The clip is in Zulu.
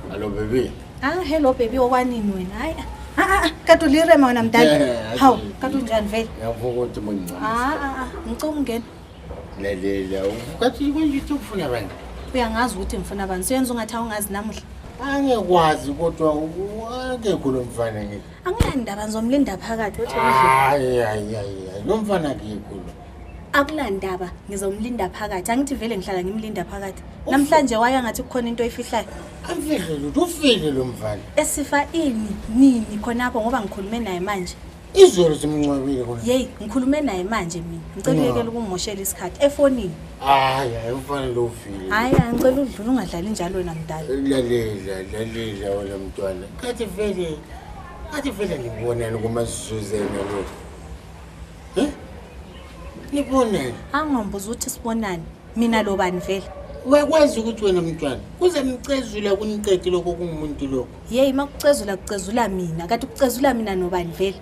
Hello baby. Ah, hello baby okwanini wena? Hayi. Ah, ah, ah, kade ulirema wena mdala. Yeah, Hawu, yeah. kade unjani vele? Ngiyavuka ukuthi mungincane. Ah, ah, ah, ngicela ungena. Lalela, ukathi kuyithu ufuna abantu. Uyangazi ukuthi ngifuna abantu. Siyenza ungathi awungazi namuhla. Angekwazi kodwa u- akekho lo mfana ngithi. Anginandaba ngizomlinda phakathi uthi Hayi hayi hayi. Nomfana kikho lo. akunandaba ngizomlinda phakathi angithi vele ngihlala ngimlinda phakathi namhlanje waya ngathi kukhona into oyifihlayo Amfihle lutho ufile lo mfana. esifa ini nini khonapho ngoba ngikhulume naye manje Izolo simncwabile kona. yeyi ngikhulume naye manje mina ngicela uyekela ukummoshela isikhathi efonini hayi hayi ufanele ufile hayi angicela udlula ungadlali njalo wena mdala lalela lalela wena mntwana kathi vele kathi vele ngibonani kumasizuzena lo um nibonani angombuza ukuthi sibonani mina lobani vele uyakwazi ukuthi wena mntwana kuze mcezula kuniqedi lokho kungumuntu lokho yeyi uma kucezula kucezula mina kanti kucezula mina nobani vele